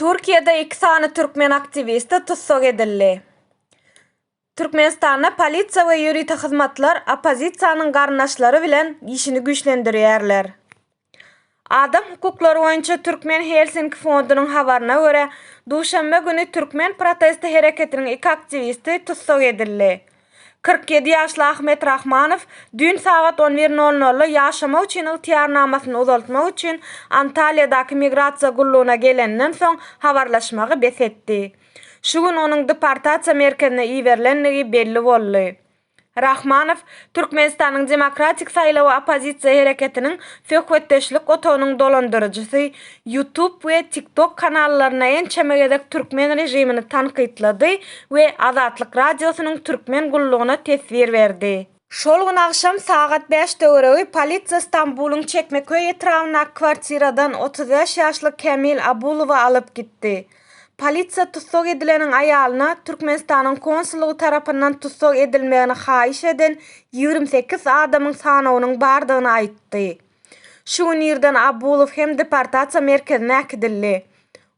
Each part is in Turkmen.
Türkiýede iki sany türkmen aktiwisti tussag edildi. Türkmenistanda polisiýa we ýörite hyzmatlar oppozisiýanyň garyndaşlary bilen işini güýçlendirýärler. Adam hukuklary boýunça Türkmen Helsinki fondunyň habaryna görä, duşenbe güni türkmen protesti hereketiniň iki aktiwisti tussag edildi. Kyrk ýedi ýaşly Ahmet Rahmanow düýn sagat on bir nol nolda ýaşamak üçin ygtyýarnamasyny uzaltmak üçin Antalýadaky migrasiýa gullugyna gelenden soň habarlaşmagy bes etdi. Şu gün onuň deportasiýa merkezine iberilendigi belli boldy. Rahmanow Türkmenistanyň Demokratik saýlawy oppozisiýa hereketiniň söhbetdeşlik otagynyň dolandyryjysy, YouTube we TikTok kanallaryna ençeme gezek türkmen režimini tankytlady we Azatlyk Radiosynyň türkmen gullugyna teswir berdi. Şol gün agşam sagat bäş töweregi polisiýa Stambulyň Çekmeköý etrabyndaky kwartiradan otuz bäş ýaşly Kämil Abulowy alyp gitdi. Polisiýa tussag edileniň aýalyna Türkmenistanyň konsullygy tarapyndan tussag edilmegini haýyş eden ýigrimi sekiz adamyň sanawynyň bardygyny aýtdy. Şu gün irden Abbulow hem deportasiýa merkezine äkidildi.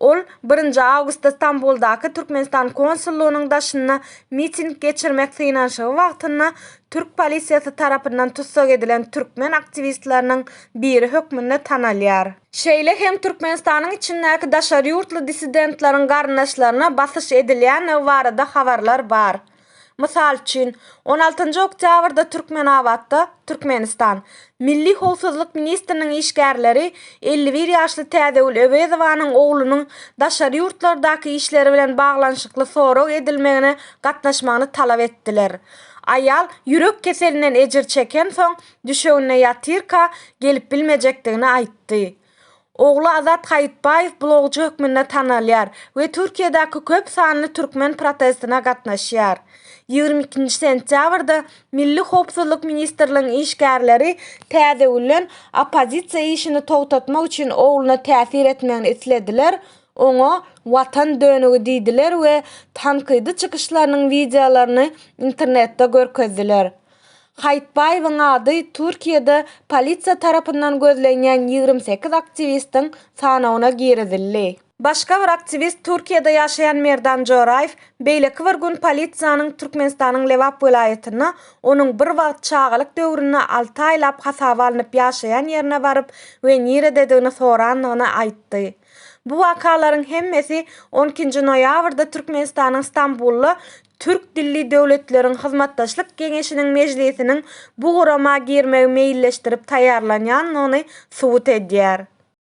Ol birinji awgustda Stambuldaky Türkmenistan konsullygynyň daşynda miting geçirmek synanyşygy wagtynda türk polisiýasy tarapyndan tussag edilen türkmen aktiwistleriniň biri hökmünde tanalýar. Şeýle hem Türkmenistanyň içindäki daşary ýurtly dissidentleriň garyndaşlaryna basyş edilýändigi barada habarlar bar. Mysal üçin, on altynjy oktýabrda Türkmenabatda, Türkmenistan, Milli howpsuzlyk ministriniň işgärleri elli bir ýaşly Täzegül Öwezowanyň oglunyň daşary ýurtlardaky işleri bilen baglanyşykly sorag edilmegine gatnaşmagyny talap etdiler. Aýal ýürek keselinden ejir çekensoň, düşeginde ýatyrka gelip bilmejekdigini aýtdy. Ogly Azat Haýytbaýew blogçy hökmünde tanalýar we Türkiýedäki köp sanly türkmen protestine gatnaşýar. Ýigrimi ikinji sentýabrda Milli howpsuzlyk ministrligiň işgärleri Täzegülden oppozisiýa işini togtatmak üçin ogluna täsir etmegini islediler, oňa Watan dönügi diýdiler we tankydy çykyşlarynyň wideolaryny internetde görkezdiler. Haýytbaýewiň ady Türkiýede polisiýa tarapyndan gözlenýän ýigrimi sekiz aktiwistiň sanawyna girizildi. Başga bir aktiwist, Türkiýede ýaşaýan Merdan Joraýew beýleki bir gün polisiýanyň Türkmenistanyň Lebap welaýatynda onuň bir wagt çagalyk döwründe alty aýlap hasaba alnyp ýaşaýan ýerine baryp we nirededigini sorandygyny aýtdy. Bu wakalaryň hemmesi on ikinji noýabrda Türkmenistanyň Stambulda Türk dilli döwletleriň hyzmatdaşlyk geňeşiniň mejlisiniň bu gurama girmegi meýilleşdirip taýýarlanýandygyny subut edýär.